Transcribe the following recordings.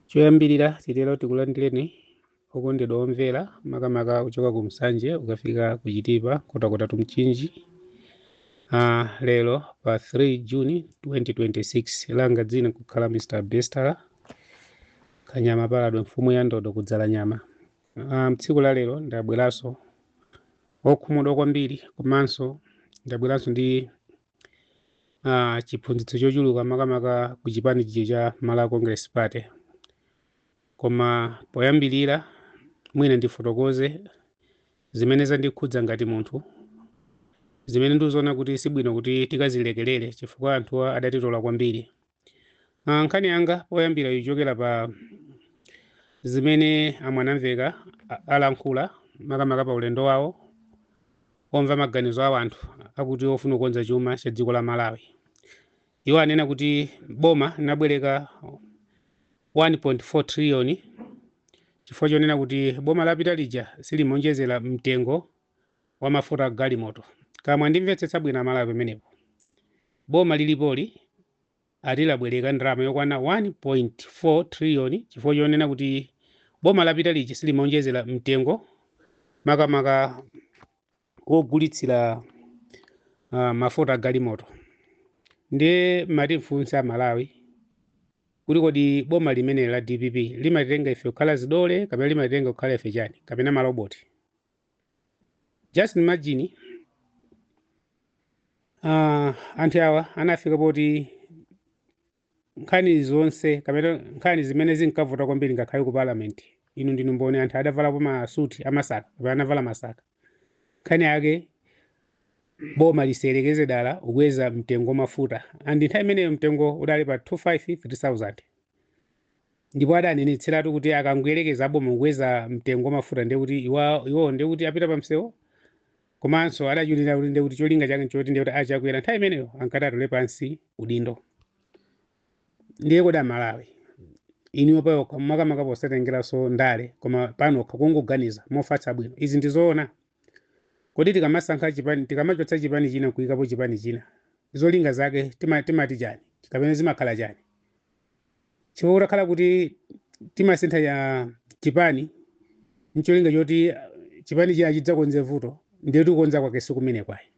choyambirira titero tikulandireni okondedwa omvera makamaka kuchoka ku msanje ukafika ku chitipa nkhotakota to mchinji uh, lero pa 3 juni 2026 langa dzina kukhala mr bester kanyama paladwe mfumu ya ndodo kudzala nyama uh, mtsiku la lero ndabweranso okhumudwa kwambiri komanso ndabweranso ndi uh, chiphunzitso chochuluka makamaka ku chipani chija cha Malawi Congress Party koma poyambirira mwina ndifotokoze zimene zandikhudza ngati munthu zimene ndikuziona kuti sibwino kuti tikazilekerere chifukwa anthuwa adatitola kwambiri Ah, nkhani yanga yoyambira ichokera pa zimene amwanamvekha a- alankhula makamaka pa ulendo wawo omva maganizo a anthu akuti ofuna kukonza chuma cha dziko la malawi iwo anena kuti boma linabwereka 1.4 triliyoni chifukwa chonena kuti boma lapita lija silimaonjezera mtengo wa mafuta agalimoto kaya mwandimvetsetsa bwino amalawi pamenepo boma lilipoli ati labwereka ndalama yokwana 1.4 trillion chifukwa chonena kuti boma lapita lija silimaonjezera mtengo makamaka wogulitsira uh, mafuta agalimoto ndiye ndati ndifunse amalawi kuti kodi boma limeneli la dpp limatitenga ife kukhala zidole kapena limatitenga kukhala ife chani kapena maloboti just imagine uh, anthu awa anafika poti nkhani zonse kapena nkhani zimene zinkavuta kwambiri ngakhale ku parliament inu ndinu mboni anthu adavalapo masuti amasaka kapena anavala masaka nkhani yake boma lisayerekeze dala kukweza mtengo wa mafuta and nthawi imeneyo mtengo udali pa 25 3000 Ndipo adanenetseratu kuti akangoyerekeza aboma kukweza mtengo wa mafuta ndiye kuti iwo iwowo ndiye kuti apita pamsewu komanso adatchuliratu kuti ndiye kuti cholinga chake nchoti ndiye kuti achakwera nthawi imeneyo ankati atule pansi udindo ndiye kodi amalawi inuyo panokha makamaka posatengeranso ndale koma panokha kungoganiza mofatsa bwino izi ndi zoona kodi tikamasankha chipani tikamachotsa chipani china nkuyikapo chipani china zolinga zake tima- timati chani kapena zimakhala chani chifukwa kutakhala kuti timasintha ya chipani ncholinga choti ah, chipani china chidzakonze vuto ndiye kuti kukonza kwake sikumene kuja ayi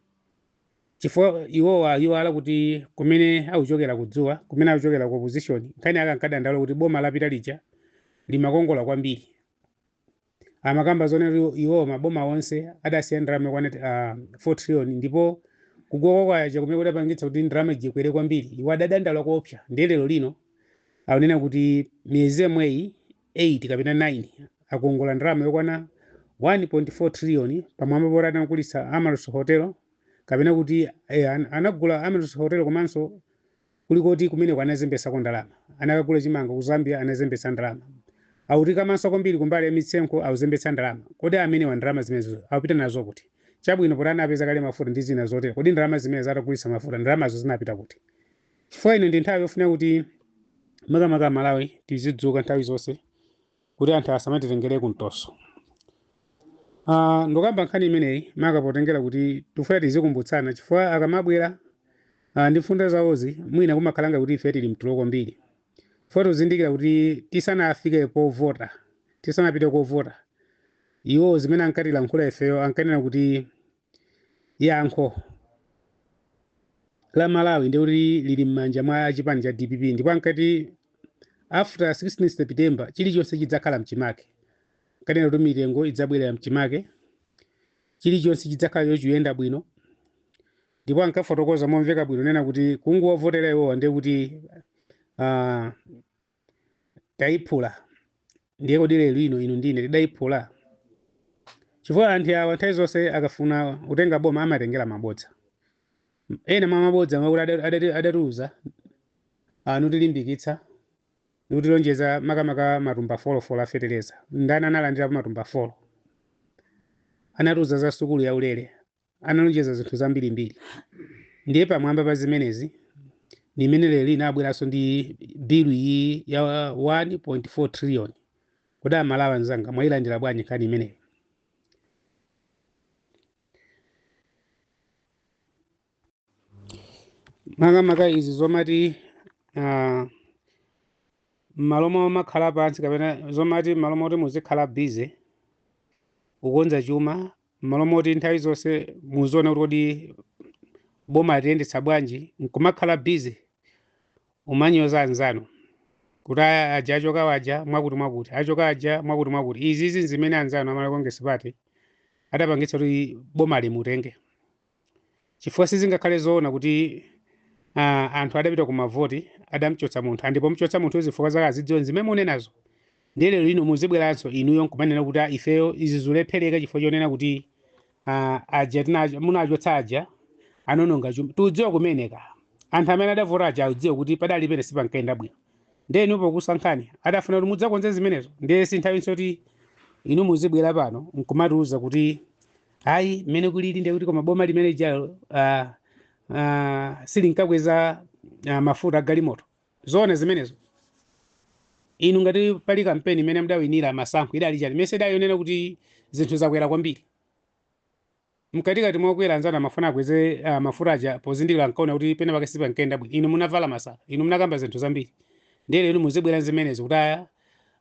chifukwa iwowa iwala kuti kumene akuchokera kudzuwa kumene akuchokera ku opposition nkhani yake ankadandaula kuti boma lapita lija limakongola kwambiri amakamba zoona kuti iwo maboma onse adasiya ndalama yokwana ah, 4 trillion ndipo kugwa kwa kwacha kumene kudapangitsa kuti ndalama ija ikwere kwambiri iwo adadandaula koopsa ndiye lero lino akunena kuti miyezi yomweyi 8 kapena 9 akongola ndalama yokwana 1.4 trillion pamwamba poti anagulitsa Amaryllis hotel kapena kuti eh, an- anagula Amaryllis hotel komanso Kulikoti kumeneko anazembetsako ndalama. Anakagula chimanga ku Zambia anazembetsa ndalama. Akutikamanso kwambiri kumbali ya misonkho akuzembetsa ndalama. Kodi amenewa ndalama zimenezo akupita nazo kuti? Chabwino poti anapeza kale mafuta ndi zina zotero kodi ndalama zimenezo atagulitsa mafuta ndalamazo zinapita kuti? Chifukwa ino ndi nthawi yofunika kuti makamaka Amalawi tizidzuka nthawi zonse. kuti anthu asamatitengere kumtoso Ah, ndikukamba nkhani imeneyi maka potengera kuti tifuna tizikumbutsana chifukwa akamabwera ah, ndi mfundo zawozi mwina kumakhala ngati ife tili mtulo kwambiri pofunika tizindikire kuti tisanafike povota tisanapite kovota iwo zimene ankatilankhula ifeyo ankanena kuti Yankho la Malawi ndiye kuti lili m'manja mwa chipani cha dpp ndipo ankati after 16 September chilichonse chidzakhala mchimake ankanena kuti mitengo idzabwerera mchimake chilichonse chidzakhala chikuyenda bwino ndipo ankafotokoza momveka bwino kunena kuti kungowavotera iwowa ndiye kuti uh, Taiphula. Ndiye kodi lero lino inu ndi ine tidaiphula? Chifukwa anthu awa nthawi zonse akafuna kutenga boma amatengera mabodza. Ena mwa mabodza omwe akuti ada, adati, adatiuza ah, nkutilimbikitsa nikutilonjeza makamaka matumba folofolo a fetereza. Ndani analandirapo matumba folo? Anatiuza za sukulu yaulere. analonjeza zinthu zambirimbiri ndiye pamwamba pa zimenezi ndi imene lero lino abweranso ndi bilu iyi ya 1.4 trillion kodi Amalawi anzanga mwayilandira bwanji nkhani imeneyo makamaka izi zomati ah, m'malo momakhala pansi kapena zomati m'malo moti muzikhala busy kukonza chuma m'malo moti nthawi zonse muziona kuti kodi boma tiyendetsa bwanji nkumakhala busy kumanyoza anzanu kuti "Aya, aja achokawa aja mwakuti mwakuti achoka aja mwakuti mwakuti izizi nzimene anzanu a Malawi Congress Party adapangitsa kuti boma ili mutenge Chifukwa sizingakhale zoona kuti a anthu adapita ku mavoti adamchotsa munthu and pomchotsa munthuyo zifukwa zake akuzidziwa ndi zimene mukunenazo ndiye lero lino muzibweranso inuyo nkumanena kuti a ifeyo izi zikulephereka chifukwa chonena kuti a aja munachotsa aja anononga chuma tiudziwa kumeneko anthu amene adavota aja audziwa kuti padali pene sipankayenda bwino ndiye inu pokusankhani adafuna kuti mudzakonze zimenezo ndiye si nthawi yoti inu muzibwera pano nkumatiuza kuti ayi mmene kulili ndiye kuti koma boma limene jalo uh, uh, silinkakweza uh, mafuta agalimoto zoona zimenezo inu ngati pali kampeni imene mudawinira masankho idali chani mese idayonena kuti zinthu zakwera kwambiri mkatikati mwakwera anzanu amafuna akweze uh, mafuta aja pozindikira ankaona kuti pena pake sipankayenda bwino inu munavala masaka inu munakamba zinthu zambiri ndiye lero muzibwera zimenezo kuti aya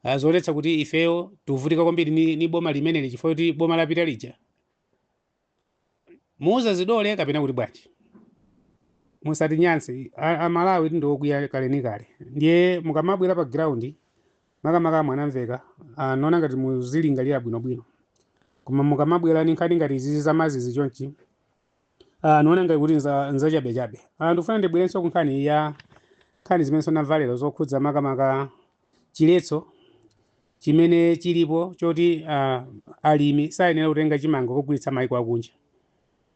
ah, zionetsa kuti ifeyo tuvutika kwambiri ni, ni boma limeneli chifukwa kuti boma lapita lija muuza zidole kapena kuti bwanji musatinyanse A- amalawi tindiokwiya kale ni kale ndiye mukamabwera pa ground makamaka a mwanamveka niona ngati muzilingalira bwinobwino koma mukamabwera ni nkhani ngati izizi zamazizi chonchi Ah, niona ngati kuti nza nzachabechabe ah, ndikufuna ndibwerenso ku nkhani ya nkhani zimene sonamva lerozi zokhudza makamaka chiletso chimene chilipo choti ah, alimi sayenera kutenga chimanga kukagulitsa maiko akunja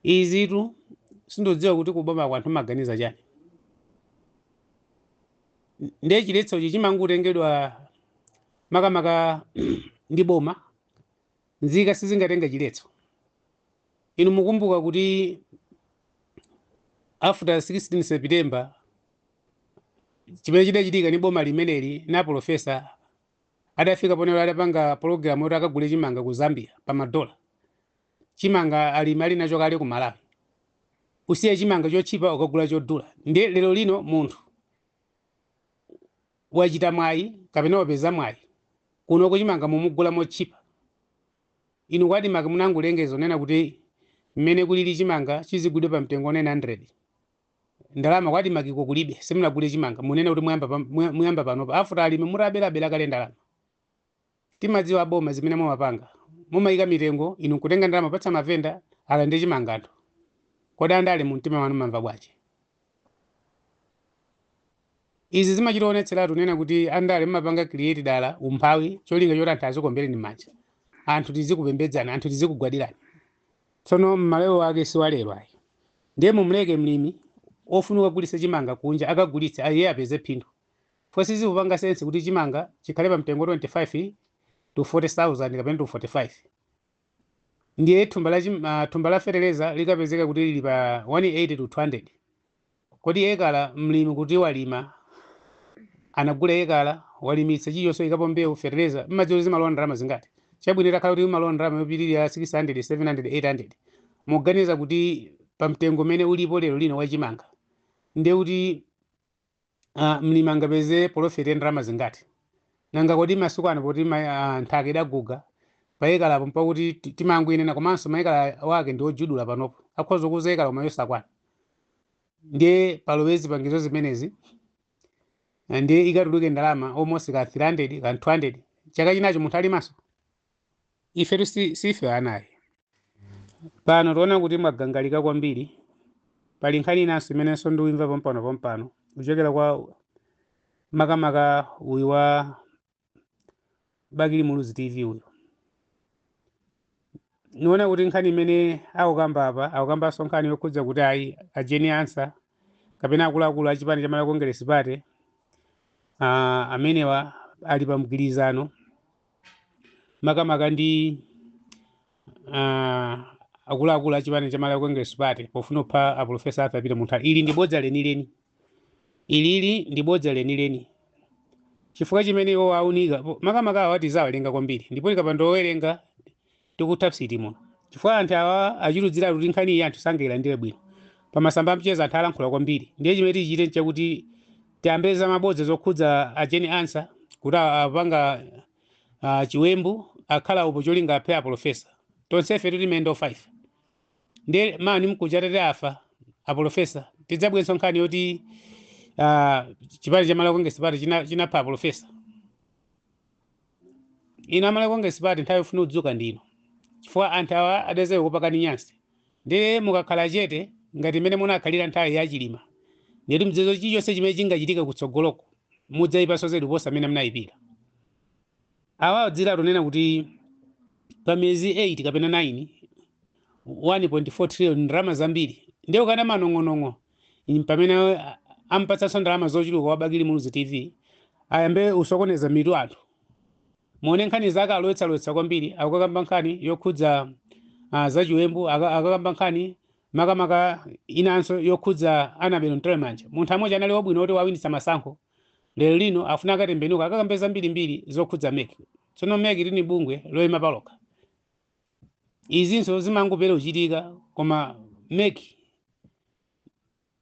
izitu sindodziwa kuti kuboma ko anthu amaganiza chani ndiye chiletsochi chimangotengedwa makamaka ndi boma nzika sizingatenge chiletso Inu mukumbuka kuti after 16 September chimene chidachitika ni boma limeneli ndi a polofesa adafika poneno adapanga pologalamu yoti akagule chimanga ku Zambia pa madola. Chimanga alimi ali nacho kale ku Malawi. Usiye chimanga chotchipa ukagula chodula. Ndiye lero lino munthu wachita mwayi kapena wapeza mwayi kunoko chimanga mumugula motchipa. Inu ku Admarc munangolengeza kunena kuti mmene kulili chimanga chizigulidwe pa mtengo wa 900. Ndalama ku Admarc ko kulibe, simunagule chimanga. Munena kuti muyamba muyamba panopa after alimi mutabelabela kale ndalama. Timadziwa aboma zimene mumapanga. Mumayika mitengo inu nkutenga ndalama kupatsa mavenda alande chimanga cha anthu. Kodi andale mumtima mwanu mumamva bwanji? Izi zimachita kuonetseratu kunena kuti andale mumapanga create dala umphawi cholinga choti anthu azikuombereni mmanja, anthu tizikupembedzani, anthu tizikugwadirani. Tsono mmalawi wake si wa lero ayi. Ndiye mumleke mlimi ofuna kukagulitsa chimanga kunja akagulitse iye apeze phindu chifukwa sizikupanga sense kuti chimanga chikhale pa mtengo wa 25 to 40 thousand kapena to 45. Ndiye thumba la, chim, ah, thumba la feteleza likapezeka kuti lili pa 180 to 200 kodi ekala mlimi kuti alime anagula ekala walimitsa chilichonse waikapo mbewu feteleza mumadziwa kuti zimalowa ndalama zingati chabwino itakhala kuti imalowa ndalama yopitirira 600 700 800 muganiza kuti pa mtengo umene ulipo lero lino wa chimanga ndiye kuti ah, mlimi angapeze polofeti ya ndalama zingati nanga kodi masiku ano poti ma- ah, nthaka idaguga pa ekalapo mpakuti ti- timangoinena komanso maekala wake ndi ojudula panopo akhoza kukuuza ekala koma yosakwana ndiye palowe zipangizo zimenezi ah, ndiye ikatuluke ndalama almost ka 300 ka 200 chaka chinacho munthu alimaso ifetu si- sife ana ayi pano tiona kuti mwagangalika kwambiri pali nkhani inanso imenenso ndikuimva pompano pompano kuchokera kwa makamaka uyu wa bakili muluzi tv uyu niona kuti nkhani imene akukamba apa akukambanso nkhani yokhudza kuti ayi a Jane Ansah kapena akuluakulu a chipani cha malawi congress party ah, amenewa ali pa mgwirizano makamaka ndi ah, akuluakulu a chipani cha Malawi Congress Party pofuna kupha a Professor Arthur Peter Mutharika. Ili ndi bodza lenileni, ilili ndi bodza lenileni chifukwa chimene iwo aunika makamaka awa atizawa alemba kwambiri ndipo tikapanda kuwerenga tikutha psiti muno chifukwa anthu awa achidziwiratu kuti nkhani iyi anthu sangailandire bwino pamasamba amchezo anthu alankhula kwambiri ndiye chimene tichite nchakuti tiyambe za mabodza zokhudza a Jane Ansah kuti a- apanga ah, chiwembu akhala upo cholinga aphe apolofesa tonsefe tili mendo 5 ndiye mawa ndi mkuja atati afa apolofesa tidzayambenso nkhani yoti ah, chipani cha malawi congress party china- chinapha apolofesa Inu a Malawi Congress Party nthawi yofuna kudzuka ndi ino chifukwa anthu awa adzayamba kukupakani nyansi ndiye mukakhala chete ngati mmene munakhalira nthawi ya Chilima ndiyeti mudziwe zoti chilichonse chimene chingachitike kutsogoloko mudzaipanso zedi kuposa mmene munaipira. Awa adziwiratu kunena kuti pa miyezi 8 kapena 9 1.4 trillion ndalama zambiri ndiye ukana manong'onong'o mpamene a- ampatsanso ndalama zochuluka wa bakili muluzi tv ayambe usokoneza mitu ya anthu muone nkhani zake alowetsalowetsa kwambiri akakamba nkhani yokhudza uh, zachiwembu aka- akakamba nkhani makamaka inanso yokhudza annabel mtalimanja munthu amodzi anali wabwino poti wawinitsa masankho lero lino afuna akatembenuka akakambe zambirimbiri zokhudza mec tsono mec ili ndi bungwe loyima palokha izinso zimangopeka kuchitika koma mec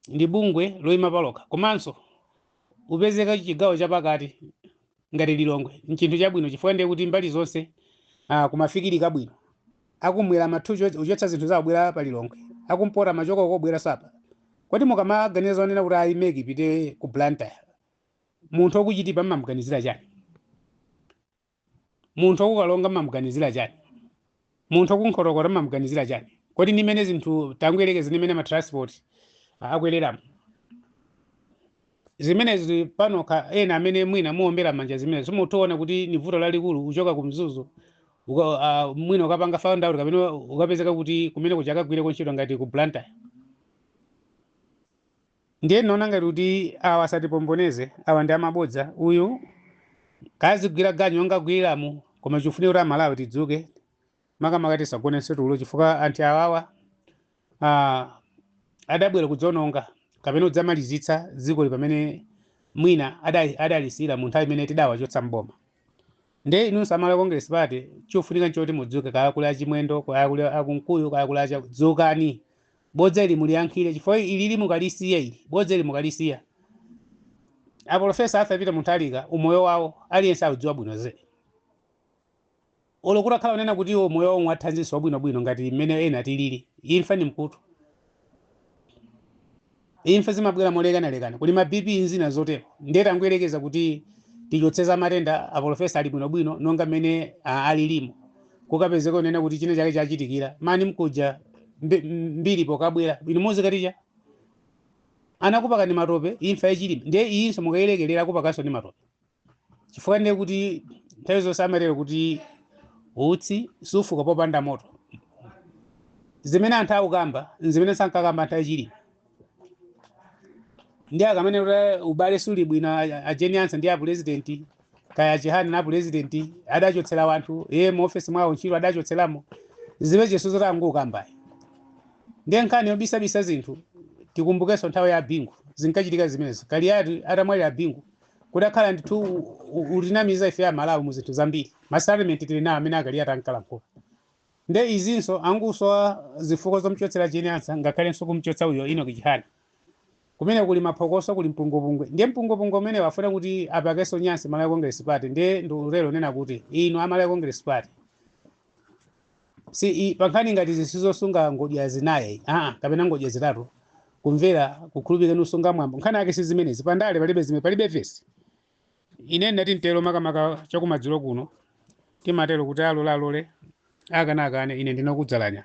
ndi bungwe loyima palokha komanso kupezeka chigawo chapakati ngati lilongwe nchinthu chabwino chifukwa ndiye kuti mbali zonse ah, kumafikirika bwino akumwera amathu ucho- uchotsa zinthu zawo kubwera pa lilongwe akumpoto amachoka uko kubwera pa kodi mukamaganiza zonena kuti ayi mec ipite ku blantyre munthu wa ku chitipa mmamuganizira chani Munthu wa ku Karonga m'mam'ganizira chani? Munthu wa ku Nkhotakota m'mam'ganizira chani? Kodi ndi m'mene zinthu, tangoyerekezani m'mene ma transport akwereramo. Zimenezi pazokha ena amene mwina muombera m'manja zimenezo mutoona kuti ni vuto lalikulu kuchoka ku Mzuzu uka, a, mwina ukapanga found out kapena ukapezeka kuti kumene kuja akagwire ntchito ngati ku Blantyre. Ndiye tinaona ngati kuti awa asatipomboneze, awa ndi amabodza, uyu kazigwira ganyu monga agwiriramo koma chifunika kuti Amalawi tidzuke makamaka tisagonenso tulo chifukwa anthu awawa ah, adabwera kudzaononga kapena kudzamalizitsa dzikoli pamene mwina ada- adalisiyira mu nthawi imene tidawachotsa m'boma. nde inunso a malawi congress party chofunika nchoti mudzuke kaya kuli achimwendo kaya kuli akunkuyu kaya kuli achani dzukani bodza ili muliyankhire chifukwa ilili mukalisiya ili bodza ili mukalisiya apolofesa asapita mu nthawi ika umoyo wawo aliyense audziwa bwino zedi Olo kutakhala onena kuti iwo umoyo wawo ngwathanzinso wabwino bwino ngati mmene ena tilili, imfa ndi mkutu. Imfa zimabwela molekana lekana, kuli ma BP nzina zotelo. Ndiye tangoyelekeza kuti tichotse za matenda, a polofesa ali bwino bwino nonga mmene a alilimo, kukapezeka kunena kuti china chake chachitikila, man mkuja mbe mbili pokabwela, inu muzikati cha? Anakupakani matope, imfa ya Chilima, ndiye iyinso mukayilekela akupakanso ndi matope. chifukwa ndiye kuti nthawi zonse amatero kuti utsi sufuka popanda moto zimene anthu akukamba nzimene ankakamba anthu achilima ndiye akamanena kuti ubale suli bwino a- ajeni ansa ndi apulezidenti kaya achihani na apulezidenti adachotsera wanthu iye mu ofesi mwawo ntchito adachotseramo zimenezo zoti angokamba ndiye nkhani yobisabisa zinthu tikumbukenso nthawi ya bingu zinkachitika zimenezo kaliyati atamwalira bingu Kudakhala ndithu u- u- utinamiza ife a Malawi mu zinthu zambiri. Ma statement tili nawo amene a Kaliati ankalankhula. Nde izinso angusowa zifukwa zomchotsera Jane Ansah ngakhalenso kumchotsa uyo Enoch Chihana. Kumene kuli maphokoso kuli mpungwepungwe. Ndiye mpungwepungwe umenewu afuna kuti apakenso nyansi Malawi Congress Party. Ndiye ndilero kunena kuti inu a Malawi Congress Party si pankhani ngati izi zosunga ngodya zinayi aa kapena ngodya zitatu kumvera kukhulupirika ndi kusunga mwambo nkhani yake si zimenezi pandale palibe zimene palibe vesi ine ndati ntero makamaka chakumadzulo kuno timatero kuti alole alole akana akane ine ndinakudzalanya